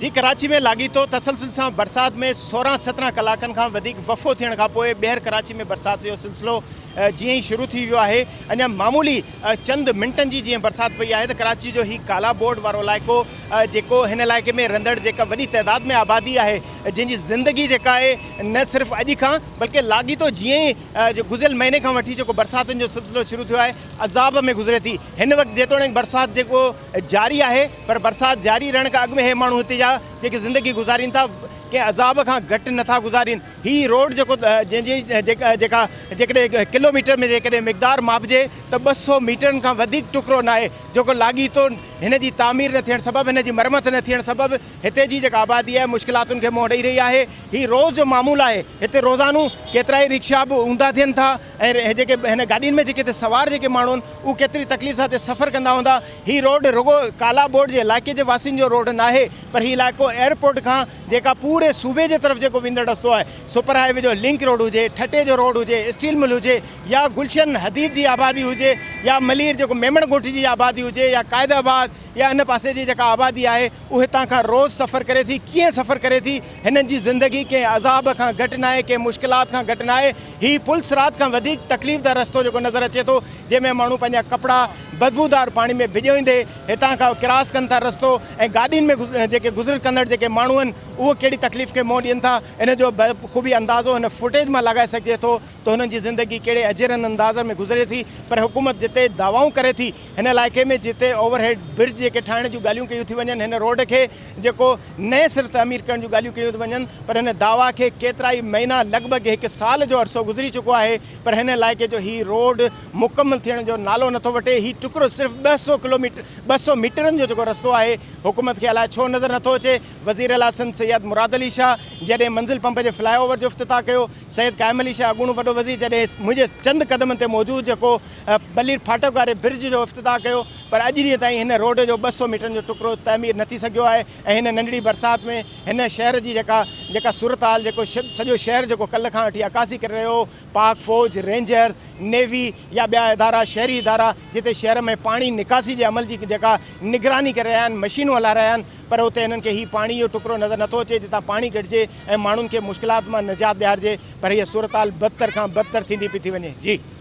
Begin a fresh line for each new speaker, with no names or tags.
جي ڪراچي ۾ لاڳيتو تسلسل سان برسات ۾ سورهن سترهن ڪلاڪن کان وڌيڪ وفو ٿيڻ کان پوء ٻيهر ڪراچي ۾ برسات جو سلسلو جيئن ئي شروع ٿي ويو آهي اڃا معمولي چند منٽن جي جيئن برسات پئي آهي ته ڪراچي جو هي ڪالا بورڊ وارو علائقو جيڪو هن علائقي ۾ رهندڙ جيڪا وڏي تعداد ۾ آبادي آهي جنهن جي زندگي جيڪا آهي نه صرف اڄ کان بلڪه لاڳيتو جيئن ئي جو گذريل مهيني کان وٺي جيڪو برساتن جو سلسلو شروع ٿيو آهي عذاب ۾ گذري ٿي هن وقت جيتوڻيڪ برسات جيڪو جاري آهي پر برسات جاري رهڻ کان اڳ ۾ هي ماڻهو هتي جا جيڪي زندگي گذارين ٿا ڪنهن عذاب کان گهٽ نه ٿا گذارين. هي روڊ جيڪو جنهن جي جيڪا جيڪڏهن ڪلوميٽر ۾ جيڪڏهن مقدار ماپجي ته ٻه سؤ ميٽرن کان وڌيڪ ٽڪرو ناهي جيڪو لاڳيتو هن جي تعمير نه ٿيڻ سبب هن جي مرمت نه ٿيڻ سبب هتي جي جيڪا آبادي آهي مشڪلاتن کي منهن ڏئي رهي آهي. هي روز جو معمول آهي هتي روزانو ڪيترائي رڪشا به اونڌا ٿين ٿا. ۽ هي جيڪي هن گاڏين ۾ جيڪي هتي سوار جيڪي ماڻهو آهن اهي ڪيتري تڪليف سان هتي سفر ڪندا هوندا. هي روڊ رڳو ڪالا بورڊ جي علائقي جي واسين جو روڊ ناهي پر هي علائقو ايئرپورٽ کان جيڪا پوري صوبي جي طرف جيڪو ويندڙ رستو آهي سپر هاء وي جو لنڪ روڊ هجي، ٺٽي جو روڊ هجي، اسٽيل مل هجي يا گلشن حديد جي آبادي هجي يا ملير جيڪو ميمڻ ڳوٺ جي آبادي هجي يا قائد آباد يا ان پاسي جي جيڪا آبادي آهي هو هتان کان روز سفر ڪري ٿي، ڪيئن سفر ڪري ٿي، هنن جي زندگي ڪنهن عذاب کان گهٽ ناهي، ڪنهن مشڪلات کان گهٽ ناهي، هي پل صراط کان وڌيڪ تڪليف ده رستو جيڪو نظر اچي ٿو، جنهن ۾ ماڻهو پنهنجا ڪپڙا بدبودار پاڻي ۾ ڀڄوئيندي هتان کان ڪراس ڪن ٿا رستو ۽ گاڏين ۾ جيڪي گذر ڪندڙ جيڪي ماڻهو آهن اهو ڪهڙي تڪليف کي منهن ڏين ٿا، ان جو بخوبي اندازو هن فوٽيج مان لاڳائي سگهجي ٿو ته هنن جي زندگي ڪهڙي اجيرن انداز ۾ گذري ٿي پر حڪومت جتي دعوائون ڪري ٿي. هن علائقي ۾ جتي اوور هيڊ برج جيڪي ٺاهڻ جون ڳالهيون ڪيون ٿيون وڃن هن روڊ کي جيڪو نئين سر تعمير ڪرڻ جون ڳالهيون ڪيون ٿيون وڃن پر هن دعويٰ کي ڪيترائي مهينا لڳ ڀڳ هڪ سال جو عرصو گذري چڪو آهي پر هن علائقي جو هي روڊ مڪمل ٿيڻ جو نالو نٿو وٺي هي ٽڪرو صرف ٻه سؤ ڪلوميٽر ٻه سؤ ميٽرن جو جيڪو رستو آهي حڪومت کي الاء ڇو نظر نٿو اچي وزيراعليٰ سنڌ سيد مراد علي شاهه جڏهن منزل پمپ جي فلائي اوور جو افتتاح ڪيو سيد قائم علي شاهه اڳوڻو وڏو وزير جڏهن منهنجي چند قدمن تي موجود جيڪو بلير ڦاٽڪ واري برج جو افتتاح ڪيو پر اڄ ڏينهن تائين هن روڊ جو ٻه سؤ ميٽرن جو ٽڪرو تعمير نه ٿي سگهيو آهي ۽ هن ننڍڙي برسات ۾ هن شهر جي جيڪا جيڪا صورتحال جيڪو سڄو شهر جيڪو ڪلهه کان وٺي عڪاسي ڪري رهيو هو پاڪ فوج رينجر نيوي يا ٻيا ادارا شهري ادارا جتي شهر ۾ پاڻي نڪاسي جي عمل جي جيڪا نگراني ڪري رهيا آهن مشينون هلائي رهيا آهن پر اتي هنن کي هي پاڻي جو ٽڪرو نظر نٿو اچي جتان پاڻي ڪڍجي ۽ ماڻهن کي مشڪلات مان نجات ڏيارجي پر هيء صورتحال بدتر کان بدتر ٿيندي پئي ٿي وڃي. جي.